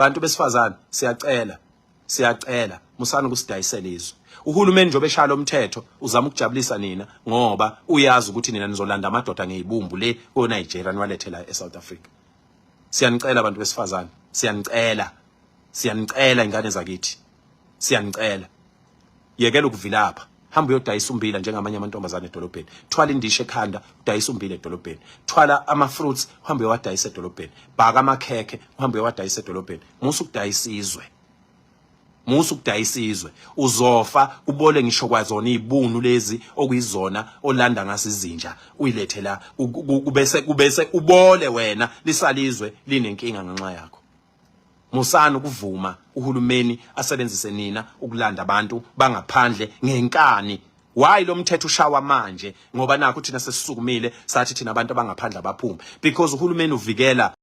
bantu besifazane siyacela siyacela musani ukusidayisela izwe uhulumeni njengoba eshaya lo mthetho uzama ukujabulisa nina ngoba uyazi ukuthi nina nizolanda amadoda ngeyibumbu le ko-nigeria niwalethela e-south africa siyanicela abantu besifazane siyanicela siyanicela ingane zakithi siyanicela yekela ukuvilapha hamba uyodayisa umbila njengamanye amantombazane edolobheni thwala indishe ekhanda udayisa umbila edolobheni thwala ama-fruits uhambe uyowadayisa edolobheni bhaka amakhekhe uhambe uyowadayisa edolobheni musa ukudayisa izwe musa ukudayisa izwe uzofa ubole ngisho kwazona izibunu lezi okuyizona olanda ngaso izinja uyilethe la kubese kubese ubole wena lisalizwe linenkinga ngenxa yakho Musani ukuvuma uhulumeni asebenzise nina ukulanda abantu bangaphandle ngenkani. Why lo mthetho ushawa manje? Ngoba nakho thina sesisukumile sathi thina abantu abangaphandle abaphume because uhulumeni uvikela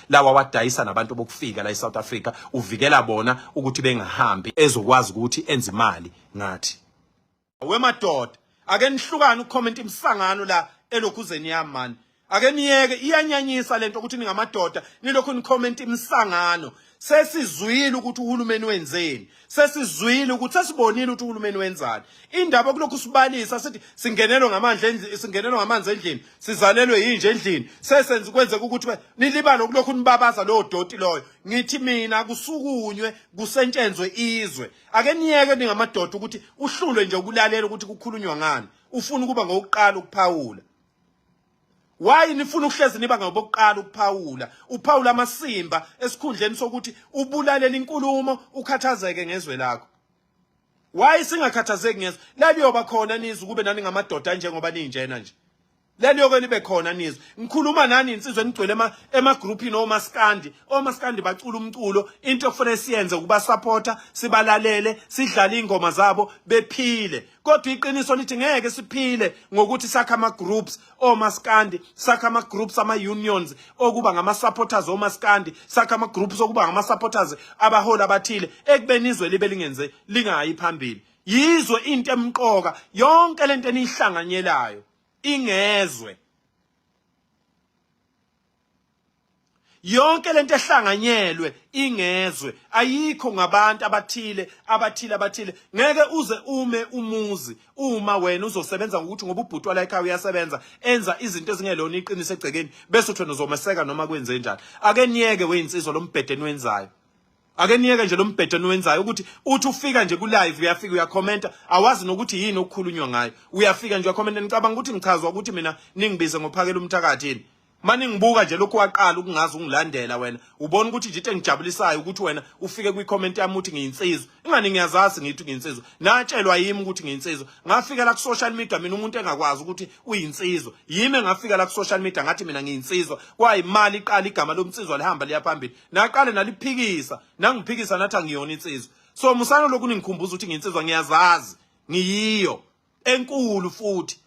lawa wadayisa nabantu bokufika la eSouth Africa uvikela bona ukuthi bengahambi ezokwazi ukuthi enze imali ngathi wemadoda ake nihlukane ucomment imsangano la elokhuzeni yami mani ake niyeke iyanyanyisa lento ukuthi ningamadoda nilokhu nicomment imsangano sesizwile ukuthi uhulumeni wenzeni sesizwile ukuthi sesibonile ukuthi uhulumeni wenzani indaba kulokhu sibalisa sithi singenelwe ngamandla endlini singenelwe ngamanzi endlini sizalelwe yinje endlini sesenze kwenzeka ukuthi nilibale kulokhu nibabaza lowo doti loyo ngithi mina kusukunywe kusentshenzwe izwe ake niyeke ningamadoda ukuthi uhlulwe nje ukulalela ukuthi kukhulunywa ngani ufuna ukuba ngokuqala ukuphawula why nifuna ukuhlezi niba ngobokuqala ukuphawula uphawula amasimba esikhundleni sokuthi ubulalela inkulumo ukhathazeke ngezwe lakho why singakhathazeki ngezwe laliyoba khona nizwe kube nani ngamadoda njengoba ninjena nje leliyoke libe khona nizwe ngikhuluma nani insizwe enigcwele ema emagrouphini omaskandi omaskandi bacula umculo into okufanele siyenze ukuba supporta sibalalele sidlale ingoma zabo bephile kodwa iqiniso lithi ngeke siphile ngokuthi sakha ama groups omaskandi sakha ama groups ama unions okuba ngama supporters omaskandi sakha ama groups okuba ngama supporters abaholi abathile ekubeni izwe libe lingenze lingayi phambili yizwe into emqoka yonke lento enihlanganyelayo ingezwe yonke lento ehlanganyelwe ingezwe ayikho ngabantu abathile abathile abathile ngeke uze ume umuzi uma wena uzosebenza ngokuthi ngoba ubhuti wala ekhaya uyasebenza enza izinto ezingelona iqiniso egcekeni bese uthena uzomeseka noma kwenze njani ake niyeke weyinsizwa lombhedeni wenzayo ake niyeke nje lo mbhedo niwenzayo ukuthi uthi ufika nje ku-live uyafika uyakhomenta awazi nokuthi yini okukhulunywa ngayo uyafika nje uyakhomenta nicabanga ukuthi ngichazwa ukuthi mina ningibize ngophakela umthakathi yini uma ningibuka nje lokhu waqala ukungazi ungilandela wena ubona ukuthi nje into engijabulisayo ukuthi wena ufike kwikhomenti yami uthi ngiyinsizwa ingani ngiyazazi ngithi ngiyinsizwa natshelwa yimi ukuthi ngiyinsizwa ngafika la ku-social media mina umuntu engakwazi ukuthi uyinsizwa yimi engafika la ku-social media ngathi mina ngiyinsizwa kwayimali iqala igama lomnsizwa lihamba liya phambili naqale naliphikisa nangiphikisa nathi angiyona insizwa so musana lokhu ningikhumbuza ukuthi nginsizwa ngiyazazi ngiyiyo enkulu futhi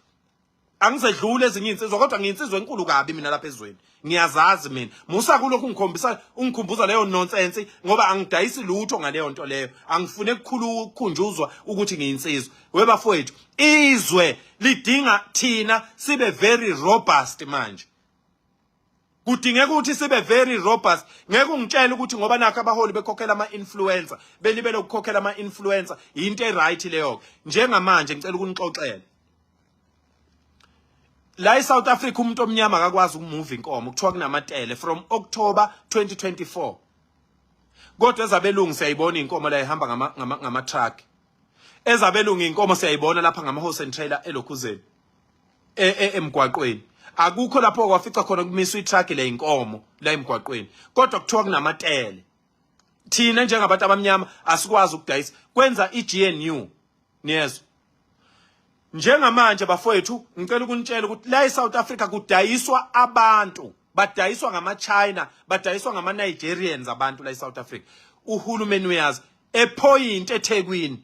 angisedlule ezinye insizwa kodwa ngiyinsizwa enkulu kabi mina lapha ezweni ngiyazazi mina musa kulokhu ungikhombisa ungikhumbuza leyo nonsense ngoba angidayisi lutho ngaleyo nto leyo angifune kukhulu ukukhunjuzwa ukuthi ngiyinsizwa webafowethu izwe lidinga thina sibe very robust manje kudingeka ukuthi sibe very robust ngeke ungitshele ukuthi ngoba nakho abaholi bekhokhela ama-influencer belibele ukukhokhela ama-influencer yinto e-right leyo-ke njengamanje ngicela ukunixoxela la e-south africa umuntu omnyama akakwazi ukumuva inkomo kuthiwa kunamatele from october 2024 kodwa ezabelungu siyayibona iy'nkomo la ihamba ngama-truck ngama, ngama ezabelungu iy'nkomo siyayibona lapha ngama-horse and trailer elokhuzeni e, e, emgwaqweni akukho lapho kwafica khona kumiswa itruck le inkomo la emgwaqweni kodwa kuthiwa kunamatele thina njengabantu abamnyama asikwazi ukudayisa kwenza iGNU niyezwa njengamanje bafowethu ngicela ukunitshela ukuthi la eSouth Africa kudayiswa abantu badayiswa ngama-china badayiswa ngama-nigerians abantu la e-south africa uhulumeni uyazi ephoyinti ethekwini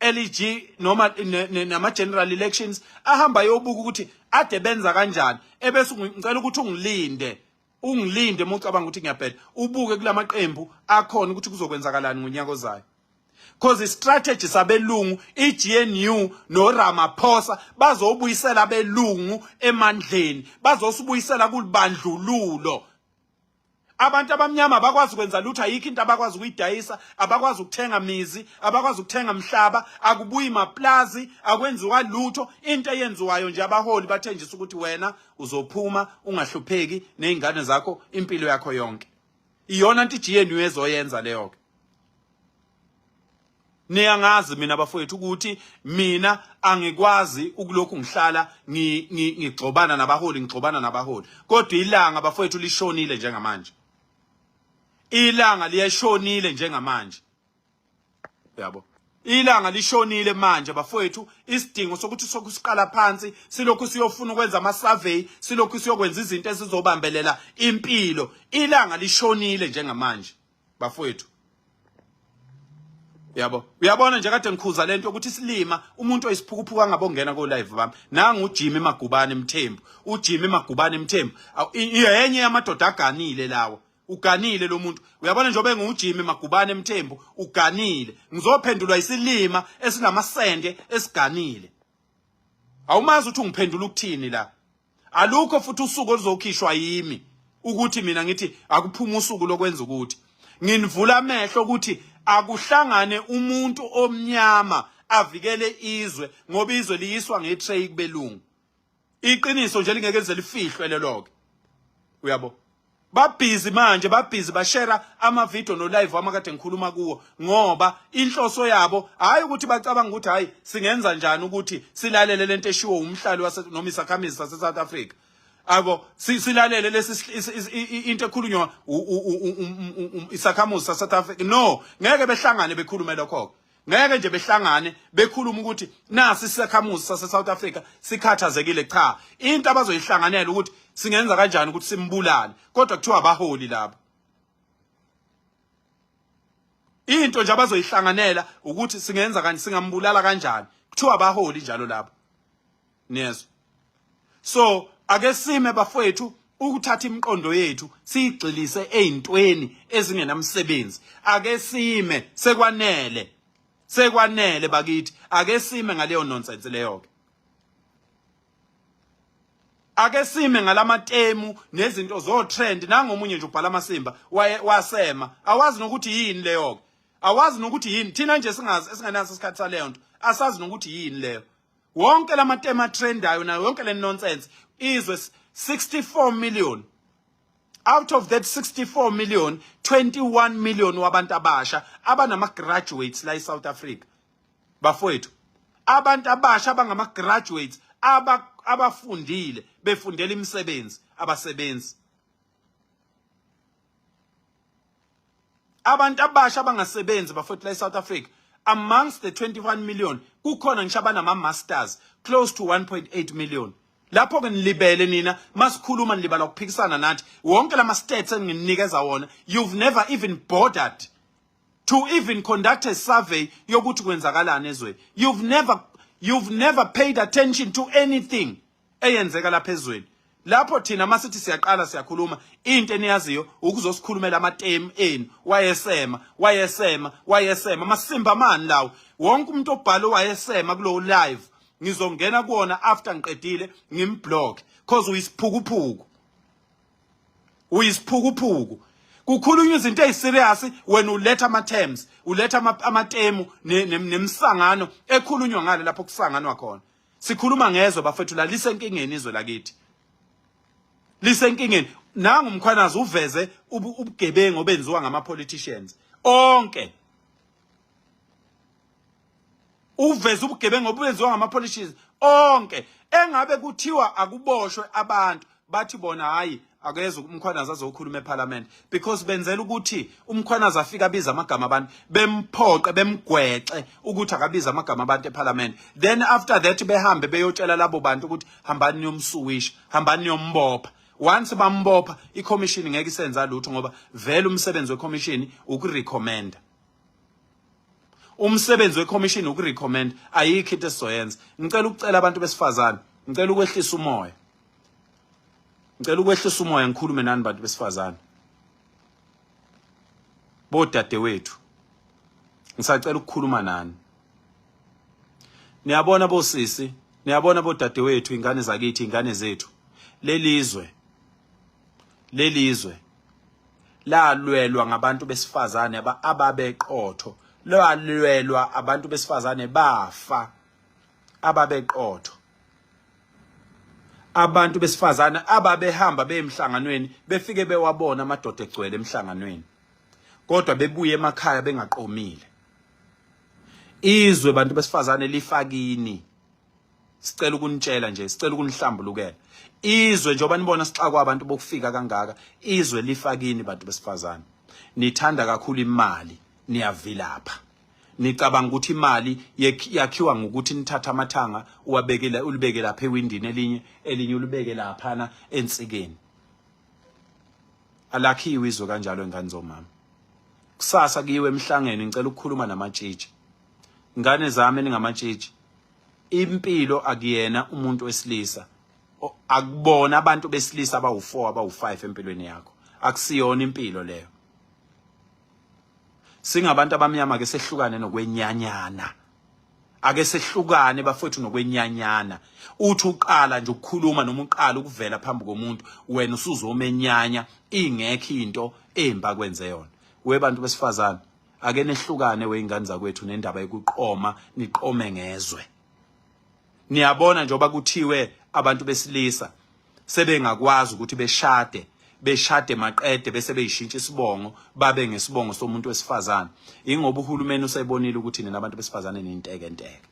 LEG noma nama general elections ahamba yobuka ukuthi ade benza kanjani ebese ngicela ukuthi ungilinde ungilinde uma ucabanga ukuthi ngiyabheda ubuke kulamaqembu akhona ukuthi kuzokwenzakalani ngonyaka ozayo because istrategy sabelungu iGNU noRamaphosa bazobuyisela belungu emandleni bazosibuyisela kulibandlululo Abantu abamnyama abakwazi kwenza lutho ayikho into abakwazi ukuyidayisa, abakwazi ukuthenga mizi, abakwazi ukuthenga mhlaba, akubuyi maplazi, akwenziwa lutho. Into eyenziwayo nje abaholi bathenjisa ukuthi wena uzophuma ungahlupheki nezingane zakho impilo yakho yonke. Iyona nto iGNU ezoyenza leyo ke. niyangazi mina bafowethu ukuthi mina angikwazi ukulokhu ngihlala ngigxobana nabaholi ngigxobana nabaholi kodwa ilanga bafowethu lishonile njengamanje ilanga liyashonile njengamanje yabo ilanga lishonile manje bafowethu isidingo sokuthi sokusiqala phansi silokhu siyofuna ukwenza ama survey silokhu siyokwenza izinto ezizobambelela impilo ilanga lishonile njengamanje bafowethu yabo uyabona nje kade ngikhuza lento ukuthi silima umuntu oyisiphukuphuka angabongena ko live bami nangu uJimmy Magubane Mthembu uJimmy Magubane Mthembu yenye yamadoda aganile lawo uganile lo muntu uyabona njengoba engujimi magubane emthembu uganile ngizophendulwa isilima esinamasende esiganile awumazi ukuthi ungiphendula ukuthini la alukho futhi usuku oluzokhishwa yimi ukuthi mina ngithi akuphuma usuku lokwenza ukuthi nginivula amehlo ukuthi akuhlangane umuntu omnyama avikele izwe ngoba izwe liyiswa ngetray kubelungu iqiniso nje lingeke lize lifihlwe leloke uyabo babhizi manje babhizi bashera amavidiyo nolive wami kade ngikhuluma kuwo ngoba inhloso yabo hhayi ukuthi bacabanga ukuthi hhayi singenza njani ukuthi silalele le nto eshiwo umhlali noma isakhamizi sase-south africa abo silalele lesi into ekhulunywa isakhamuzi sase-south africa no ngeke behlangane bekhulume lokho-ke ngeke nje behlangane bekhuluma ukuthi nasi isakhamuzi sase South Africa sikhathazekile cha into abazoyihlanganela ukuthi singenza kanjani ukuthi simbulale kodwa kuthiwa abaholi laba into nje abazoyihlanganela ukuthi singenza kanjani singambulala kanjani kuthiwa abaholi njalo laba niyezwa so ake sime bafowethu ukuthatha imiqondo yethu siyigxilise ezintweni ezingenamsebenzi ake sime sekwanele sekwanele bakithi ake sime ngaleyo nonsense leyo ke ake sime ngalamatemu nezinto zo trend nangomunye nje ubhala amasimba wasema awazi nokuthi yini leyo ke awazi nokuthi yini thina nje singazi esingenaso isikhathi saleyo nto asazi nokuthi yini leyo wonke lamatema trendayo nayo yonke le nonsense izwe 64 million out of that 64 million 21 million wabantu abasha abanama graduates la eSouth Africa bafowethu abantu abasha abangama graduates abafundile befundela imisebenzi abasebenzi abantu abasha abangasebenzi bafotela eSouth Africa amongst the 21 million kukhona ngisho abanama masters close to 1.8 million lapho ke nilibele nina masikhuluma nilibala ukuphikisana nathi wonke lama stats enginikeza wona you've never even bothered to even conduct a survey yokuthi kwenzakalani ezweni you've never you've never paid attention to anything eyenzeka lapha ezweni lapho thina masithi siyaqala siyakhuluma into eniyaziyo ukuzosikhulumela amatemu enu wayesema wayesema wayesema masimba mani lawo wonke umuntu obhalo wayesema kulowo live ngizongena kuona after ngiqedile ngimblock cause uyisiphukuphuku uyisiphukuphuku kukhulunywa izinto eziserious wena uletha ama terms uletha amatemu nemisangano ekhulunywa ngale lapho kusanganwa khona sikhuluma ngezwe bafethu la lisenkingeni izwe lakithi lisenkingeni nangu umkhwanazi uveze ubugebengu obenziwa ngama politicians onke uveze ubugebengu obenziwa ngama politicians onke engabe kuthiwa akuboshwe abantu bathi bona hayi akeze umkhwanazi azokhuluma eParliament because benzela ukuthi umkhwanazi afike abiza amagama abantu bemphoqe bemgwexe ukuthi akabiza amagama abantu eParliament then after that behambe beyotshela labo bantu ukuthi hambani niyomsuwisha hambani niyombopha once bambopha icommission ngeke isenza lutho ngoba vele umsebenzi wecommission ukurecommenda umsebenzi wekhomishini ukurecommend ayikho into esizoyenza ngicela ukucela abantu besifazane ngicela ukwehlisa umoya ngicela ukwehlisa umoya ngikhulume nani bantu besifazane bodadewethu ngisacela ukukhuluma nani niyabona bosisi niyabona bodadewethu ingane zakithi ingane zethu lelizwe lelizwe lalwelwa ngabantu besifazane ababeqotho lalwelwa abantu besifazane bafa ababeqotho abantu besifazane ababehamba beyemhlanganweni befike bewabona amadoda egcwele emhlanganweni kodwa bebuye emakhaya bengaqomile izwe bantu besifazane lifakini sicela ukunitshela nje sicela ukunihlambulukela izwe njengoba nibona sixakwa abantu bokufika kangaka izwe lifakini bantu besifazane nithanda kakhulu imali niyavilapha nicabanga ukuthi imali yakhiwa ngokuthi nithatha amathanga uwabekela ulibeke lapha ewindini elinye elinye ulibeke laphana ensikeni alakhiwe izwe kanjalo ingane zomama kusasa kiwe emhlangeni ngicela ukukhuluma namatshitshi ngane zami eningamatshitshi impilo akuyena umuntu wesilisa akubona abantu besilisa abawu4 abawu5 empilweni yakho akusiyona impilo leyo singabantu abamnyama ke sehlukane nokwenyanyana ake sehlukane bafowethu nokwenyanyana uthi uqala nje ukukhuluma noma uqala ukuvela phambi komuntu wena usuzomenyanya ingekho into emba kwenze yona we bantu besifazane ake nehlukane weingane zakwethu nendaba yokuqoma niqome ngezwe niyabona njengoba kuthiwe abantu besilisa sebengakwazi ukuthi beshade beshade maqede bese beyishintsha isibongo babe ngesibongo somuntu wesifazane ingoba uhulumeni usebonile ukuthi nina abantu besifazane ninteke nteke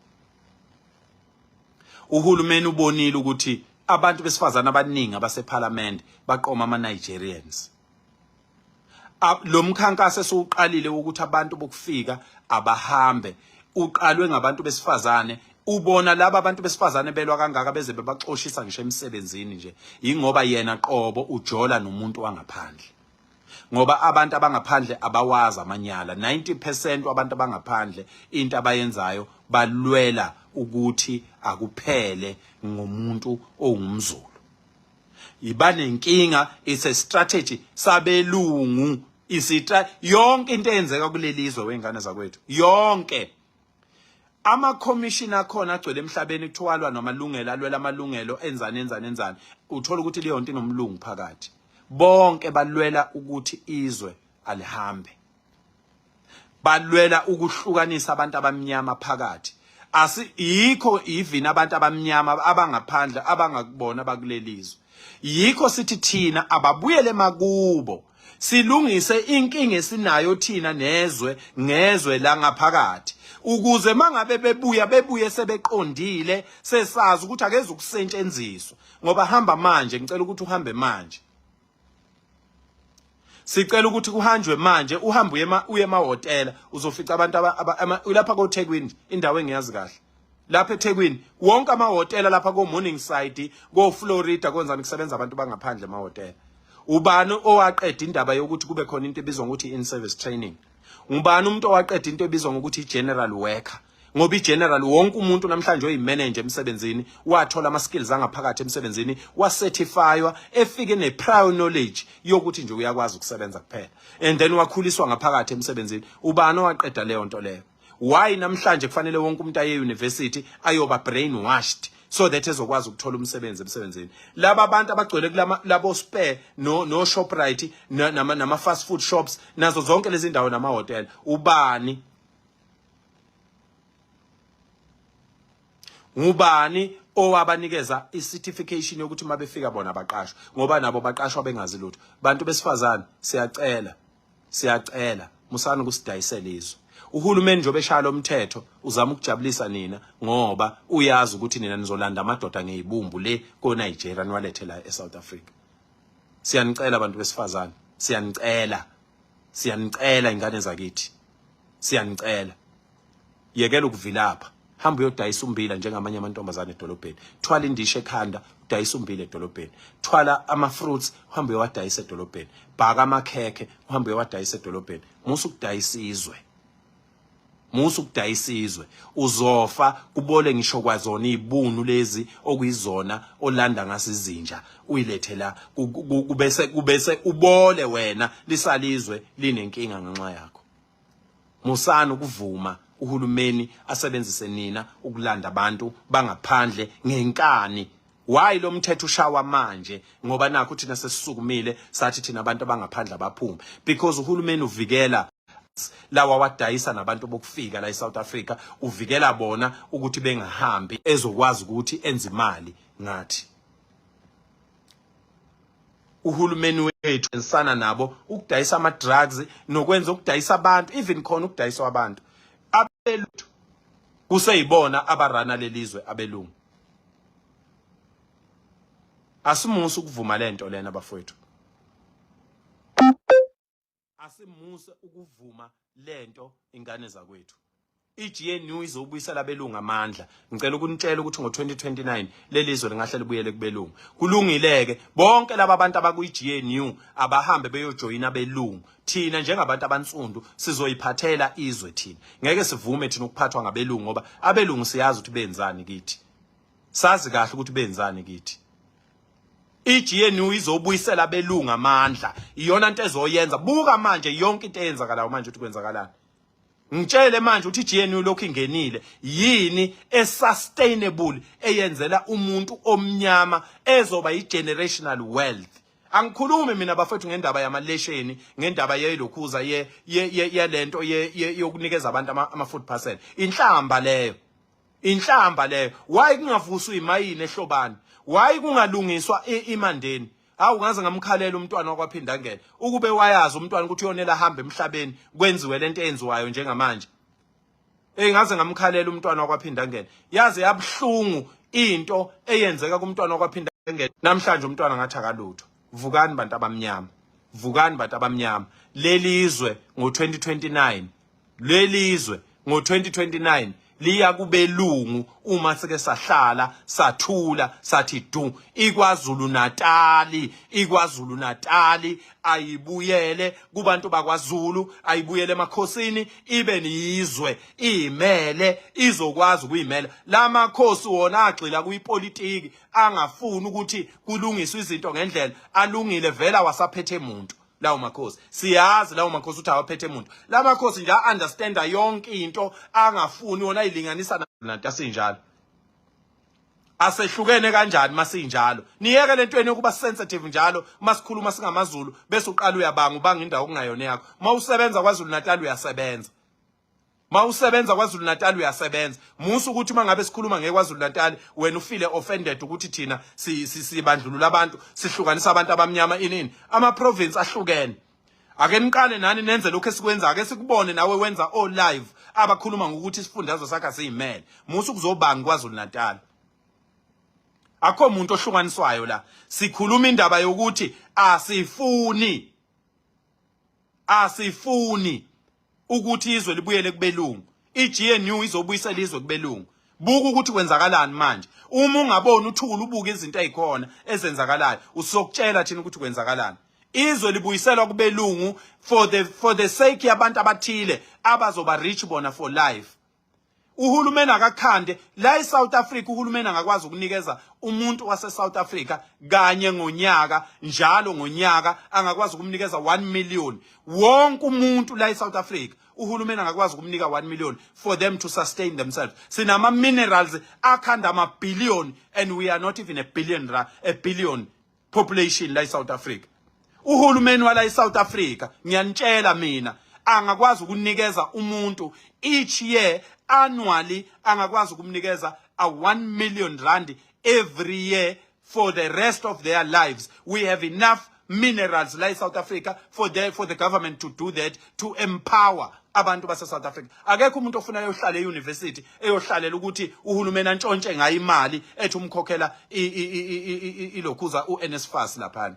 uhulumeni ubonile ukuthi abantu besifazane abaningi abasephalamende baqoma ama Nigerians lo mkhankaso esiwuqalile wokuthi abantu bokufika abahambe uqalwe ngabantu besifazane ubona laba abantu besifazane belwa kangaka beze bebaxoshisa ngisho emsebenzini nje ingoba yena qobo ujola nomuntu wangaphandle ngoba abantu abangaphandle abawazi amanyala 90% wabantu abangaphandle into abayenzayo balwela ukuthi akuphele ngomuntu ongumzulu ibanenkinga it's a strategy sabelungu isitra yonke into eyenzeka kulelizwe wengane zakwethu yonke ama commission akhona agcwele emhlabeni kuthiwalwa namalungelo alwela amalungelo enzani enzani enzani uthola ukuthi leyo nto inomlungu phakathi bonke balwela ukuthi izwe alihambe balwela ukuhlukanisa abantu abamnyama phakathi asi yikho even abantu abamnyama abangaphandle abangakubona bakulelizwe yikho sithi thina ababuyele makubo silungise inkinga esinayo thina nezwe ngezwe la ngaphakathi ukuze mangabe bebuya bebuye sebeqondile sesazi ukuthi akeze ukusetshenziswa ngoba hamba manje ngicela ukuthi uhambe manje sicela ukuthi kuhanjwe manje uhambe uye uye emahhotela uzofica abantu ulapha kothekwini indawo engiyazi kahle lapha ethekwini wonke amahhotela lapha ko-morning side ko-florida kwenzani kusebenza abantu bangaphandle emahhotela ubani owaqeda indaba yokuthi kube khona into ebizwa ngokuthi in-service training ngubani umuntu owaqeda into ebizwa ngokuthi i-general worker ngoba i-general wonke umuntu namhlanje oyimanager emsebenzini wathola ama-skills angaphakathi emsebenzini wacertifywa efike ne-prior knowledge yokuthi nje uyakwazi ukusebenza kuphela and then wakhuliswa ngaphakathi emsebenzini ubani owaqeda leyo nto leyo why namhlanje kufanele wonke umuntu aye e-university ayoba brainwashed so that ezokwazi ukuthola umsebenzi emsebenzini laba abantu abagcwele kulama labo spare no no shoprite nama nama fast food shops nazo zonke lezi ndawo nama hotel ubani ngubani owabanikeza icertification yokuthi mabefika bona baqashwe ngoba nabo baqashwa bengazi lutho bantu besifazane siyacela siyacela musani ukusidayisela izwe uhulumeni njengoba eshaya lo mthetho uzama ukujabulisa nina ngoba uyazi ukuthi nina nizolanda amadoda ngeyibumbu le ko-nigeria niwalethe la e-south africa siyanicela abantu besifazane siyanicela siyanicela ingane zakithi siyanicela yekela ukuvilapha hamba uyodayisa umbila njengamanye amantombazane edolobheni thwala indishe ekhanda udayisa umbila edolobheni thwala ama-fruits uhambe uyowadayisa edolobheni bhaka amakhekhe uhambe uyowadayisa edolobheni musa ukudayisa izwe musa ukudayisa izwe uzofa kubole ngisho kwazona izibunu lezi okuyizona olanda ngaso izinja uyilethe la kubese kubese ubole wena lisalizwe linenkinga ngenxa yakho Musani ukuvuma uhulumeni asebenzise nina ukulanda abantu bangaphandle ngenkani why lo mthetho ushawa manje ngoba nakho thina sesisukumile sathi thina abantu abangaphandle abaphume because uhulumeni uvikela lawa wadayisa nabantu bokufika la eSouth Africa uvikela bona ukuthi bengahambi ezokwazi ukuthi enze imali ngathi uhulumeni wethu ensana nabo ukudayisa ama drugs nokwenza ukudayisa abantu even khona ukudayisa abantu abeluthu kuseyibona abarana lelizwe abelungu asimusa ukuvuma lento lena bafowethu asimuse ukuvuma lento ingane zakwethu iGNU izobuyisela abelungu amandla ngicela ukunitshela ukuthi ngo2029 lelizwe lingahle libuyele kubelungu kulungileke bonke laba bantu abakuyiGNU abahambe beyojoyina abelungu thina njengabantu abansundu sizoyiphathela izwe thina ngeke sivume thina ukuphathwa ngabelungu ngoba abelungu siyazi ukuthi benzani kithi sazi kahle ukuthi benzani kithi iGNU izobuyisela abelungu amandla iyona into ezoyenza buka manje yonke into eyenzakalayo manje ukuthi kwenzakalani ngitshele manje ukuthi iGNU lokhu ingenile yini esustainable eyenzela umuntu omnyama ezoba igenerational wealth angikhulumi mina bafethu ngendaba yamalesheni ngendaba yelokhuza ye yalento yokunikeza abantu ama food parcel inhlamba leyo inhlamba leyo why kungavuswa imayini ehlobani why kungalungiswa imandeni hawu ngaze ngamkhalela umntwana wakwaphindangene ukube wayazi umntwana ukuthi uyonela ahambe emhlabeni kwenziwe lento eyenziwayo njengamanje Ey ngaze ngamkhalela umntwana wakwaphindangene yaze yabuhlungu into eyenzeka kumntwana wakwaphindangene namhlanje umntwana ngathi akalutho vukani bantu abamnyama vukani bantu abamnyama lelizwe ngo 2029 lwelizwe ngo-2029 liya kubelungu uma sike sahlala sathula sathi du ikwazulu natali ikwazulu natali ayibuyele kubantu bakwazulu ayibuyele emakhosini ibe niyizwe imele izokwazi ukuyimela lamakhosi wona agxila kuyipolitiki angafuni ukuthi kulungiswe izinto ngendlela alungile vela wasaphethe muntu lawo makhosi siyazi lawo makhosi uthi awaphethe muntu la makhosi nje a-understanda yonke into angafuni wona ayilinganisa nanto asinjalo asehlukene kanjani masinjalo niyeke lento yenu yokuba sensitive njalo masikhuluma singamaZulu bese uqala uyabanga ubanga indawo kungayona yakho mawusebenza kwaZulu Natal uyasebenza mawusebenza kwaZulu Natal uyasebenza musa ukuthi mangabe sikhuluma ngekwaZulu Natal wena ufile offended ukuthi thina sibandlulula abantu sihlukanisa abantu abamnyama inini ama province ahlukene ake niqale nani nenze lokho esikwenza ake sikubone nawe wenza o live abakhuluma ngokuthi isifundazwe sakhe siyimele musa ukuzobanga kwaZulu Natal akho muntu ohlukaniswayo la sikhuluma indaba yokuthi asifuni asifuni ukuthi izwe libuyele kubelungu iGNU izobuyisela izwe kubelungu buka ukuthi kwenzakalani manje uma ungaboni uthula ubuke izinto ezikhona ezenzakalayo usokutshela thina ukuthi kwenzakalani izwe libuyiselwa kubelungu for the for the sake yabantu abathile abazoba rich bona for life uhulumeni akakhande la eSouth Africa uhulumeni angakwazi ukunikeza umuntu waseSouth Africa kanye ngonyaka njalo ngonyaka angakwazi ukumnikeza 1 million wonke umuntu la eSouth Africa uhulumeni angakwazi ukumnika 1 million for them to sustain themselves sinama minerals akhanda ama billion and we are not even a billion a billion population la eSouth Africa uhulumeni wala eSouth Africa ngiyanitshela mina angakwazi ukunikeza umuntu each year annually angakwazi ukumnikeza a 1 million rand every year for the rest of their lives we have enough minerals la eSouth Africa for the for the government to do that to empower abantu base South Africa akekho umuntu ofuna yohlala euniversity eyohlalela ukuthi uhulumeni antshontshe ngayo imali ethi umkhokhela ilokhuza uNSFAS laphana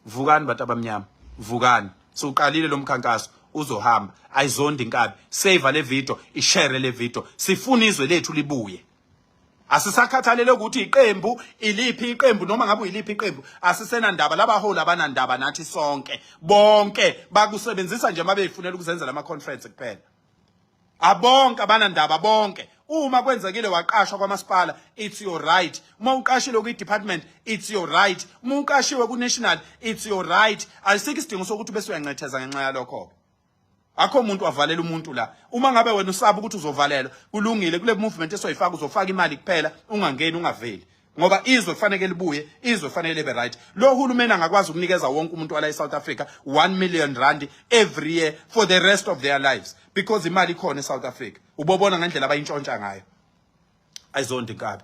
vukani bantu abamnyama vukani siwuqalile lo mkhankaso uzohamba ayizondi inkabi save le video ishare le video sifuna izwe lethu libuye asisakhathalele ukuthi iqembu iliphi iqembu noma ngabe uyiliphi iqembu asisena ndaba labaholi abanandaba nathi sonke bonke bakusebenzisa nje mabeyifunela ukuzenzela ama conference kuphela abonke abanandaba bonke uma kwenzekile waqashwa kwamasipala it's your right uma uqashile kwi department it's your right uma uqashiwe ku national it's your right ayisikho isidingo sokuthi bese uyancetheza ngenxa yalokho akho umuntu wavalela umuntu la uma ngabe wena usaba ukuthi uzovalelwa kulungile kule movement esoyifaka uzofaka imali kuphela ungangeni ungaveli ngoba izwe kufanele libuye izwe kufanele libe right lo hulumeni angakwazi ukunikeza wonke umuntu wala eSouth Africa 1 million rand every year for the rest of their lives because imali ikhona eSouth Africa ubobona ngendlela abayintshontsha ngayo ayizonto inkabi